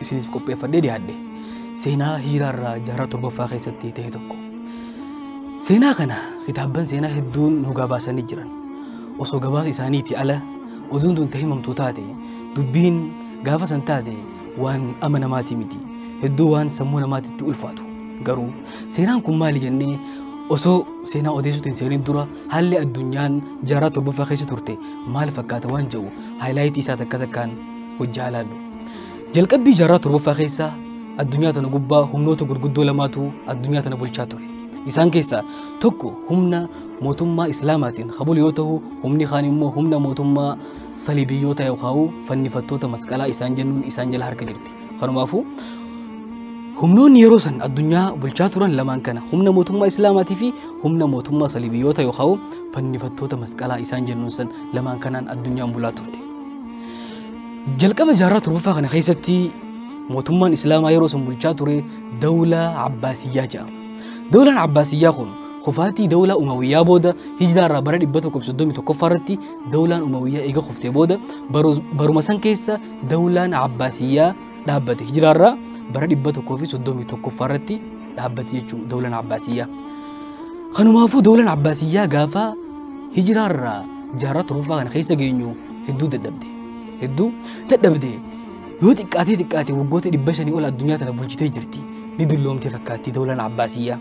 isiniif qopheeffadhee dhiyaadhe seenaa hiiraarraa jaarraa torbaffaa keessatti ta'e tokko. Seenaa kana kitaabban seenaa hedduun nu gabaasanii jiran. Osoo gabaasa isaaniitii ala oduun tun himamtuu taate dubbiin gaafa san taate waan ama namaatii miti. Hedduu waan sammuu namaatitti ulfaatu. Garuu seenaan kun maali jennee osoo seenaa odeessuutti hin seeniin dura haalli addunyaan jaarraa torbaffaa keessa turte maal fakkaata waan jedhu haayilaayitii isaa takka takkaan hojjaa ilaallu. Jalqabbii jaarraa torbaffaa keessa addunyaa tana gubbaa humnoota gurguddoo lamaatu addunyaa tana bulchaa ture. Isaan keessaa tokko humna mootummaa Islaamaatiin kan bulu yoo ta'u, humni kaan immoo humna mootummaa saliibiyyoota yookaan fannifattoota masqalaa isaan jennuun isaan jala harka jirti. Kanumaafuu humnoonni yeroo san addunyaa bulchaa turan lamaan kana humna mootummaa Islaamaatii fi humna mootummaa saliibiyyoota yookaan fannifattoota masqalaa isaan jennuun san lamaan kanaan addunyaan bulaa turte. Jalqaba jaarraa torbaffaa kana keessatti mootummaan Islaamaa yeroo sun bulchaa ture dawlaa Abbaasiyyaa jedhama. Dawlaan Abbaasiyyaa kun kufaatii dawlaa Umawiyyaa booda hijraa irraa bara 131ffaa irratti dawlaan Umawiyyaa eega kuftee booda baruma san keessa dawlaan Abbaasiyyaa dhaabbate hijraa irraa bara 131ffaa irratti dhaabbate jechuudha dawlaan Abbaasiyyaa. Kanumaafuu dawlaan Abbaasiyyaa gaafa hijraa irraa jaarraa torbaffaa kana keessa geenyu hedduu dadhabde hedduu dadhabde yoo xiqqaatee xiqqaate waggoota dhibba shanii ol addunyaa tana bulchitee jirti ni dulloomtee fakkaatti dawlaan abbaasiyyaa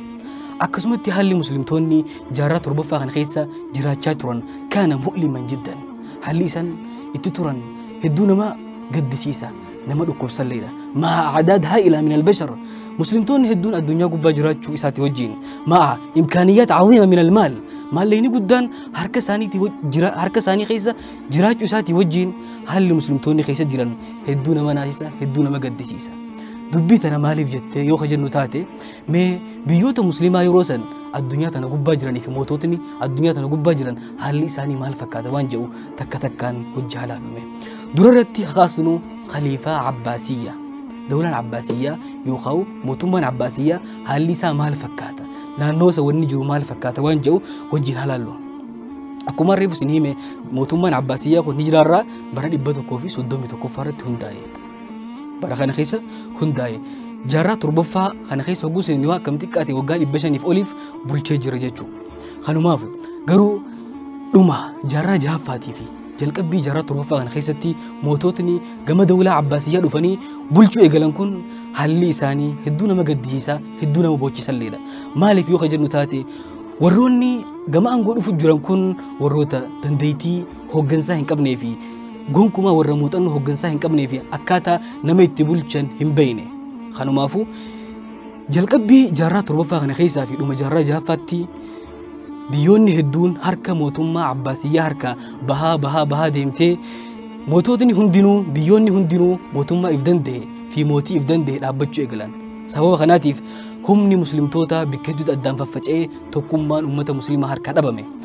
akkasumatti haalli muslimtoonni jaarraa torbaffaa kana keessa jiraachaa turan kaana mu'liman jiddan haalli isaan itti turan hedduu nama gaddisiisa nama dhukkubsalleedha maa acdaadhaa ilaa min albashar muslimtoonni hedduun addunyaa gubbaa jiraachuu isaati wajjiin maa imkaaniyyaat caziima min almaal maalleyni guddaan harka isaaniitii waj- jira- harka isaanii keessa jiraachuu isaatii wajjiin haalli muslimtoonni keessa jiran hedduu nama naasisa hedduu nama gaddisiisa dubbii tana maaliif jettee yoo ka jennu taate Mee biyyoota musliimaa yeroo san addunyaa tana gubbaa jiranii fi moototni addunyaa tana gubbaa jiran haalli isaanii maal fakkaata waan jedhu takka takkaan hojji halaafame. Dura irratti kaasnu khaliifaa Abbaasiyyaa. Dawlaan Abbaasiyyaa yookaan mootummaan Abbaasiyyaa haalli isaa maal fakkaata? Naannoo isa wanni jiru maal fakkaata waan jedhu wajjin halaallu. Akkuma reefu isin hime mootummaan Abbaasiyyaa kun ni jiraarraa bara 131 irratti hundaa'e. bara kana keessa hundaa'e. Jaarraa torbaffaa kana keessa hogguu seenni waa akkam xiqqaate waggaa dhibba shaniif oliif bulchee jira jechuudha. Kanumaaf garuu dhuma jaarraa jahaffaatii fi jalqabbii jaarraa torbaffaa kana keessatti moototni gama dawlaa abbaasiyyaa dhufanii bulchuu eegalan kun haalli isaanii hedduu nama gaddisiisaa hedduu nama boochisalleedha. Maaliif yoo ka jennu taate warroonni gama aangoo dhufu jiran kun warroota dandeettii hooggansaa hin qabnee fi gonkumaa warra muuxannoo hoggansaa hin qabnee fi akkaataa nama itti bulchan hin beekne. Kanumaafuu jalqabbii jaarraa torbaffaa kana keessaa fi dhuma jaarraa jahaffaatti biyyoonni hedduun harka mootummaa Abbaasiyyaa harkaa bahaa bahaa bahaa deemtee moototni hundinuu biyyoonni hundinuu mootummaa if danda'e fi mootii if danda'e dhaabbachuu eegalan. Sababa kanaatiif humni muslimtootaa bikka hedduutti addaan faffaca'ee tokkummaan uummata musliimaa harkaa dhabame.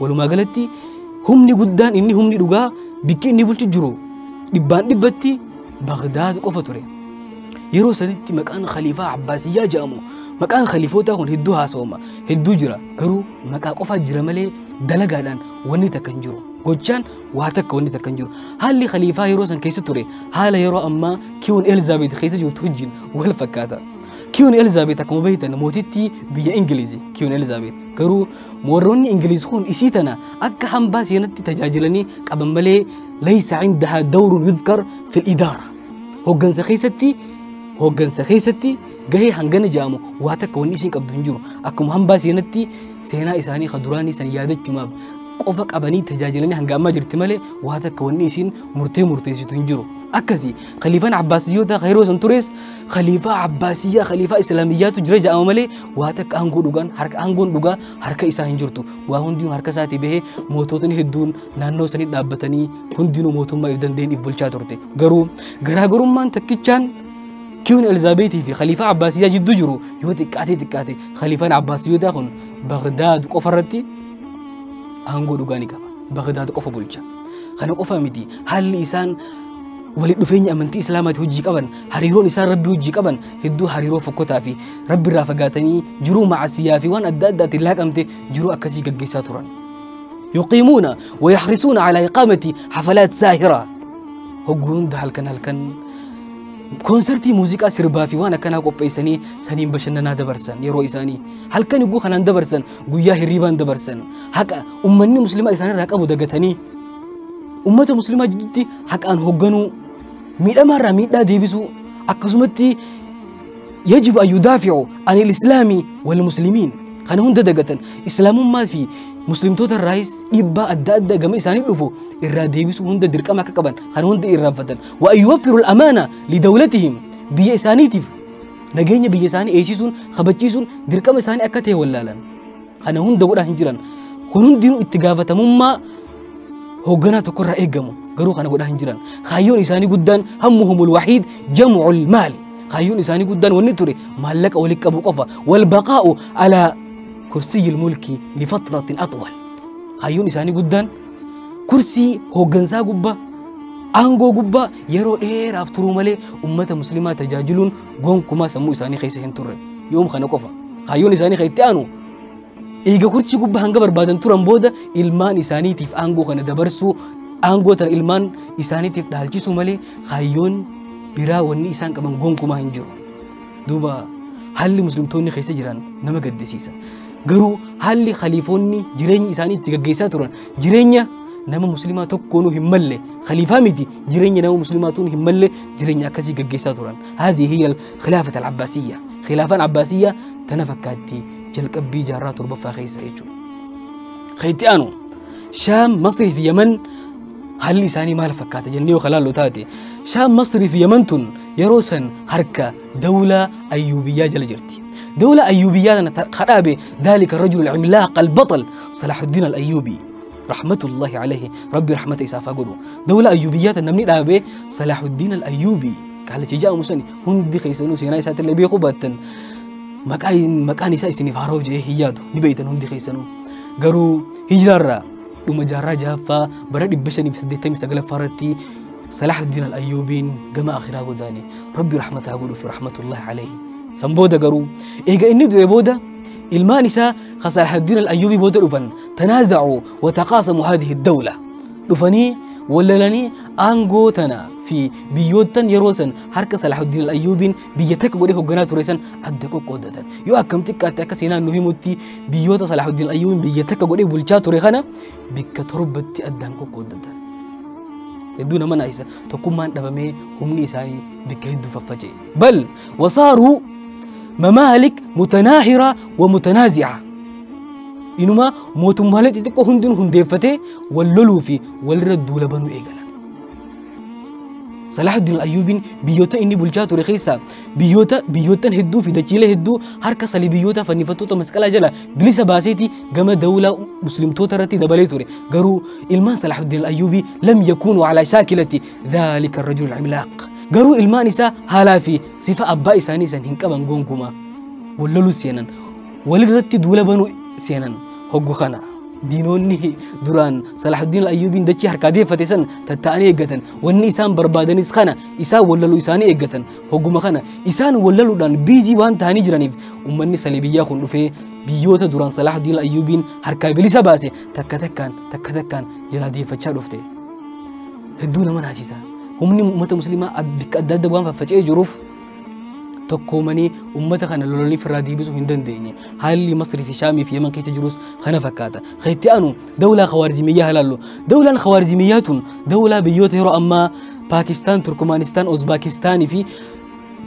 Walumaa galatti humni guddaan inni humni dhugaa bikki inni bulchu jiru dhibbaan dhibbatti Bagdaad qofa ture. Yeroo sanitti maqaan khaliifaa Abbaasiyyaa jedhamu maqaan khaliifootaa kun hedduu haasawama hedduu jira garuu maqaa qofaa jira malee dalagaadhaan wanni takka hin jiru. Gochaan waa takka wanni takka hin jiru. Haalli khaliifaa yeroo san keessa ture haala yeroo ammaa kiwun Elizaabeet keessa jirtu wajjin wal fakkaata. Kiwun Elizaabeet akkuma beektan mootittii biyya Ingiliizi kiwun Elizaabeet garuu Moorroonni Ingiliiz kun isii tana akka hambaa seenatti tajaajilanii qaban malee laysa indaha dawrun yudhkar fil idaara. Hoggansa keessatti hoggansa keessatti gahee hangana jedhamu waa takka wanni isiin qabdu hin jiru. Akkuma hambaa seenatti seenaa isaanii ka duraanii san yaadachumaaf qofa qabanii tajaajilanii hanga ammaa jirti malee waa takka wanni isiin murtee murteessitu hin jiru. Akkasi khaliifaan Abbaasiyyoota ka yeroo san tures khaliifaa Abbaasiyyaa khaliifaa Islaamiyyaatu jira jedhama malee waa takka aangoo dhugaan harka aangoon dhugaa harka isaa hin jirtu waa hundinuu harka isaatii bahee moototni hedduun naannoo sanii dhaabbatanii hundinuu mootummaa if danda'een if bulchaa turte garuu garaagarummaan takkichaan kiwun elizaabeetii fi khaliifaa abbaasiyyaa jidduu jiru yoo xiqqaatee xiqqaate khaliifaan abbaasiyyotaa kun bagdaad qofa irratti aangoo dhugaa ni qaba bagdaad qofa bulcha kana qofa miti haalli isaan walitti dhufeenya amantii islaamaatii hojii qaban hariiroon isaan rabbii hojii qaban hedduu hariiroo fokkotaa fi rabbi irraa fagaatanii jiruu macasiyaa fi waan adda addaatiin laaqamte jiruu akkasii gaggeessaa turan. Yuqiimuuna wa yaxrisuuna calaa iqaamati hafalaat saahiraa. Hogguu hunda halkan halkan koonsartii muuziqaa sirbaa fi waan akkanaa qopheessanii saniin bashannanaa dabarsan yeroo isaanii halkan hogguu kanaan dabarsan guyyaa hirriibaan dabarsan haqa ummanni muslimaa isaanirraa qabu dagatanii ummata muslimaa jidduutti haqaan hogganuu miidhamaa irraa miidhaa deebisuu akkasumatti yajibu an yudaaficu an ilislaami walmuslimiin kana hunda dagatan islaamummaa fi muslimtoota irraayis dhiibbaa adda addaa gama isaanii dhufu irraa deebisuu hunda dirqama akka qaban kana hunda irraanfatan wa an yuwaffiru alamaana lidawlatihim biyya isaaniitiif nageenya biyya isaanii eegsisuun kabachiisuun dirqama isaanii akka ta'e wallaalan Kana hunda godhaa hin jiran. Kun hundinuu itti gaafatamummaa hoogganaa tokko irraa eegamu. Garuu kana godhaa hin jiran. Kaayyoon isaanii guddaan hammuhumul wahiid jam'ul maali. Kaayyoon isaanii guddaan wanni ture maallaqa walitti qabu qofa. Wal baqaa'u alaa kursiyyil mulkii lifatratin atwal. Kaayyoon isaanii guddaan kursii hooggansaa gubbaa aangoo gubbaa yeroo dheeraaf turuu malee ummata muslimaa tajaajiluun gonkumaa sammuu isaanii keessa hin turre yoom kana qofa kaayyoon isaanii kan itti aanu eega kursi gubbaa hanga barbaadan turan booda ilmaan isaaniitiif aangoo kana dabarsuu aangoo tana ilmaan isaaniitiif dhaalchisuu malee kaayyoon biraa wanni isaan qaban gonkumaa hin jiru duuba haalli muslimtoonni keessa jiran nama gaddisiisa garuu haalli khaliifoonni jireenya isaanii itti gaggeessaa turan Jireenya nama muslimaa tokkoonuu hin malle khaliifaa miti jireenya nama muslimaa tuun hin malle jireenya akkasii gaggeessaa turan. Haadhi hiyya khilaafat al-Abbaasiyya. Khilaafaan Abbaasiyya tana fakkaatti jalqabbii jaarraa torbaffaa keessa jechuudha. Keetti aanu Shaam, Masrii fi Yaman haalli isaanii maal fakkaata jennee yoo kalaallu taate Shaam, Masrii fi Yaman tun yeroo san harka Dawlaa Ayyuubiyyaa jala jirti. Dawlaa Ayyuubiyyaa tana ta- ka dhaabe daalika rajulu al-imlaaq al-baxal Salaahuddin al-Ayyuubi rahmatullahi alayhi rabbi rahmata isaaf haa godhu. Dawlaa Ayyuubiyyaa tana namni dhaabe Salaahuddin al-Ayyuubi qaalichi ja'amu sani hundi keessanuu seenaa isaatti illee beekuu baattan maqaan maqaan isaa isiniif haaroo jee hin yaadu ni beektan hundi keessanuu. Garuu hijraarraa dhuma jaarraa jahaffaa bara 589 irratti Salaahuddiin Al-Ayyuubiin gama akhiraa godaane. Rabbi rahmata haa godhuuf rahmatullahi alayhi. San booda garuu eega inni du'e booda ilmaan isaa ka Salaahuddiin Al-Ayyuubii booda dhufan tanaazacu wa taqaasamu haadihi dawla. Dhufanii wallalanii aangoo tana fi biyyoottan yeroo san harka Salaahuddiin Al-Ayyuubiin biyya takka godhee hogganaa ture san adda qoqqoodatan. Yoo akkam xiqqaatte akka seenaan nu himutti biyyoota Salaahuddiin Al-Ayyuubiin biyya takka godhee bulchaa ture kana bikka torbatti addaan qoqqooddatan. Hedduu nama naasisa tokkummaan dhabamee humni isaanii bikka hedduu faffaca'e. Bal wasaaruu mamaalik mutanaahiraa wa mutanaazi'a. Inumaa mootummaalee xixiqqoo hundinuu hundeeffatee wal loluu fi walirra duula banuu eegalan. Salaahuddin Ayyuubiin biyyoota inni bulchaa ture keessaa biyyoota biyyoottan hedduu fi dachiilee hedduu harka saliibiyyoota fannifattoota masqalaa jala bilisa baaseeti gama dawlaa muslimtoota irratti dabalee ture garuu ilmaan salaahuddin ayyuubii lam yakuunu alaa shaakilati dhaalika rajul imlaaq garuu ilmaan isaa haalaa fi sifa abbaa isaanii san hin qaban gonkumaa wallaluu seenan walirratti duula banuu seenan hoggu kana diinoonni duraan salaahuddin ayyuubiin dachii harkaa deeffate san tatta'anii eeggatan wanni isaan barbaadanis kana isaan wallaluu isaanii eeggatan hogguma kana isaan wallaluudhaan biizii waan ta'anii jiraniif ummanni salee biyyaa kun dhufee biyyoota duraan salaahudiin ayyuubiin harkaa bilisa baase takka takkaan takka takkaan jalaa deeffachaa dhufte hedduu nama naasisa humni uummata musliimaa ad- bakka adda adda waan faffaca'ee jiruuf tokkoomanii uummata kana lolanii firraa deebisuu hin dandeenye haalli masrii fi shaamii fi yaman keessa jirus kana fakkaata kan itti aanu dawlaa khawaarizimiyyaa halaallu dawlaan khawaarizimiyyaa tun dawlaa biyyoota yeroo ammaa Paakistaan, Turkmaanistaan, Uzbaakistaanii fi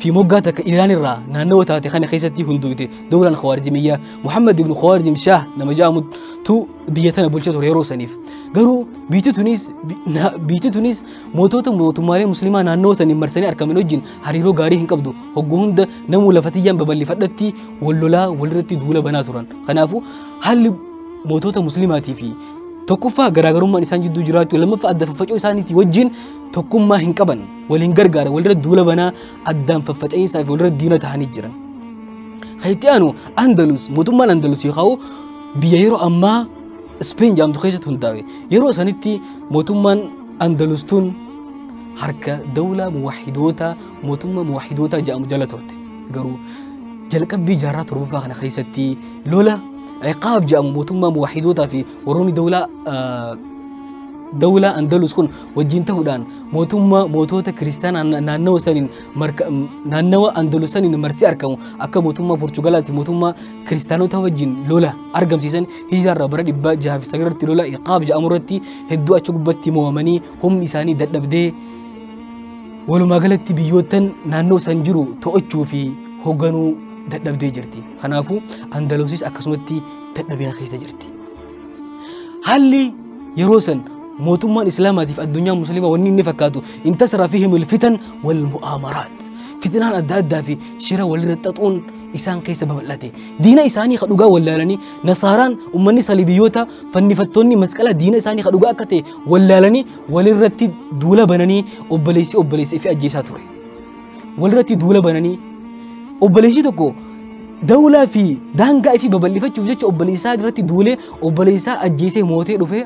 fi moggaa takka Iraan irraa naannawa taate kana keessatti hundooyte dawlaan Khawaarizimiyyaa Muhammad ibn Khawaarizim Shaah nama jedhamutu biyya tana bulcha ture yeroo saniif. Garuu biyyi tunis bi- na- biyyi tunis mootota mootummaalee musliimaa naannawa saniin marsanii argaman wajjin hariiroo gaarii hin qabdu. Hogguu hunda namuu lafa tiyyaan babal'ifadhatti wal lolaa walirratti duula banaa turan. Kanaafuu haalli mootota musliimaatii fi Tokkoffaa garaagarummaan isaan jidduu jiraachuu lammaffaa adda faffaca'uu isaaniitii wajjin tokkummaa hin qaban waliin gargaara walirra duula banaa addaan faffaca'iinsaa fi walirra diina ta'anii jiran. Kan itti aanu Andalus mootummaan Andalus yookaan biyya yeroo ammaa Ispeen jedhamtu keessatti hundaa'e yeroo sanitti mootummaan Andalus tun harka dawlaa muwaahidoota mootummaa muwaahidoota jedhamu jala turte garuu jalqabbii jaarraa torbaffaa kana keessatti lola ciqaab jedhamu mootummaa muwaahidoota fi warroonni dawlaa dawlaa andalus kun wajjin ta'uudhaan mootummaa mootoota kiristaanaa naannawa saniin naannawa andalus saniin marsee argamu akka mootummaa porchugalaatti mootummaa kiristaanota wajjin lola argamsiisan hijaarraa bara dhibba jaha fi sagalirratti lola ciqaab jedhamu irratti hedduu achi gubbatti mo'amanii Humni isaanii dadhabdee walumaa galatti biyyoottan naannoo san jiru to'achuu fi hogganuu dadhabdee jirti. Kanaafuu Andalusis akkasumatti dadhabina keessa jirti. Haalli yeroo san mootummaan Islaamaatiif addunyaa Musliimaa wanni inni fakkaatu intasara fi himil fitan wal mu'aamaraat. Fitinaan adda addaa fi shira walirra xaxuun isaan keessa babal'ate. Diina isaanii ka dhugaa wallaalanii nasaaraan ummanni salibiyoota fannifattoonni masqala diina isaanii ka dhugaa akka ta'e wallaalanii walirratti duula bananii obboleessi obboleessa ifi ajjeesaa ture. Walirratti duula bananii obboleessi tokko dawlaa fi daangaa ifi babal'ifachuuf jecha obboleessaa irratti duulee obboleessaa ajjeesee mootee dhufee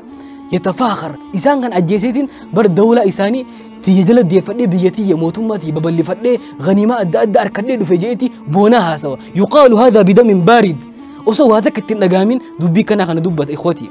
yatafaakar isaan kan ajjeeseetiin bar dawlaa isaanii tiyya jala deeffadhee biyya tiyya mootummaa tiyya babal'ifadhee ganiimaa adda addaa harkadhee dhufe je'eeti boonaa haasawa yuqaalu haadha bidamin baarid osoo waa takka ittiin dhagaamin dubbii kanaa kana dubbata ikwatii.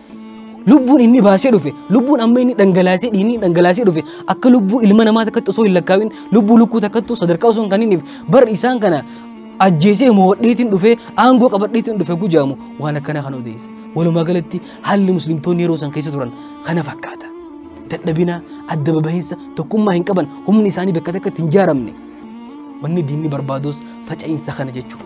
Lubbuun inni baasee dhufe, lubbuun amma inni dhangalaasee dhiinii dhangalaasee dhufe akka lubbuu ilma namaa takkatti osoo hin lakkaawin lubbuu lukkuu takkattu sadarkaa osoo hin kaniniif bar isaan kana ajjeesee mo'adheetiin dhufee aangoo qabadheetiin dhufe gujaamu waan akkanaa kan odeesse. Walumaa galatti haalli muslimtoonni yeroo san keessa turan kana fakkaata. Dadhabina, adda babahinsa, tokkummaa hin qaban, humni isaanii bakka takkatti hin jaaramne. Wanni diinni barbaadus faca'iinsa kana jechuudha.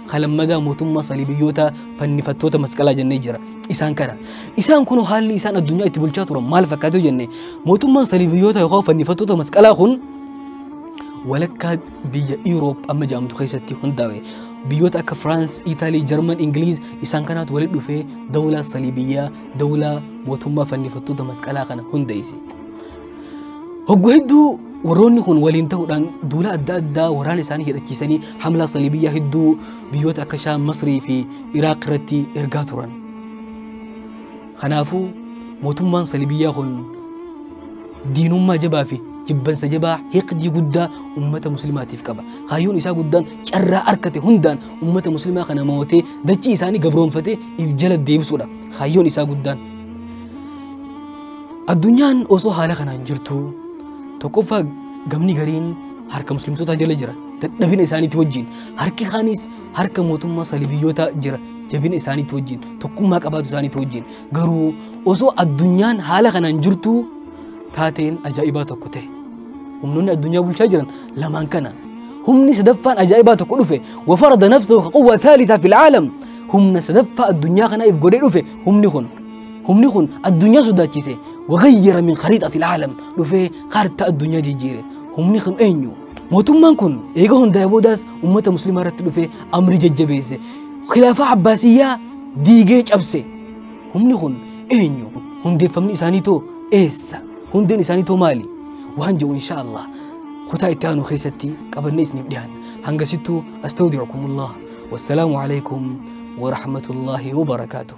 Halammagaa mootummaa saliibiyyootaa fannifattoota masqalaa jennee jira. Isaan kana. Isaan kun haalli isaan addunyaa itti bulchaa turan maal fakkaatu jenne mootummaan saliibiyyoota yookaan fannifattoota masqalaa kun walakkaa biyya Iroop amma jedhamtu keessatti hundaa'e. Biyyoota akka Firaans, Itaalii, Jarman, Ingiliiz isaan kanaatu walitti dhufee dawlaa saliibiyyaa, dawlaa mootummaa fannifattoota masqalaa kana hundeesse. Hoggu hedduu warroonni kun waliin ta'uudhaan duula adda addaa waraana isaanii hidhachiisanii hamlaa saliibiyyaa hedduu biyyoota akka Shaam, Masrii fi Iraaq irratti ergaa turan. Kanaafuu mootummaan saliibiyyaa kun diinummaa jabaa fi jibbansa jabaa hiqdii guddaa ummata muslimaatiif qaba. Kaayyoon isaa guddaan carraa arkate hundaan ummata muslimaa kana mo'atee dachii isaanii gabroonfatee if jala deebisuudha. Kaayyoon isaa guddaan. Addunyaan osoo haala kanaan jirtu tokkoffaa gamni gariin harka muslimtootaa jala jira dadhabina isaaniitti wajjin harki kaanis harka mootummaa salibiyyootaa jira jabina isaaniitti wajjin tokkummaa qabaatu isaaniitti wajjin garuu osoo addunyaan haala kanaan jirtu taateen ajaa'ibaa tokko ta'e humnoonni addunyaa bulchaa jiran lamaan kana humni sadaffaan ajaa'ibaa tokko dhufe wafarada nafsahu ka quwwa thaalithaa fil aalam humna sadaffaa addunyaa kanaaf godhee dhufe humni kun humni kun addunyaa sodaachise wagayyara min khariixati ilaalam dhufee kaartaa addunyaa jijjiire humni kun eenyu mootummaan kun eega hundaa'e boodaas ummata muslimaa irratti dhufee amrii jajjabeesse khilaafaa abbaasiyyaa diigee cabse humni kun eenyu hundeeffamni isaanii too eessa hundeen isaanii too maali waan jedhu insha allah kutaa itti aanu keessatti qabannee isiniif dhiyaanna hangasittuu astawdicukumullah wassalaamu alaikum warahmatullaahi wabarakaatuh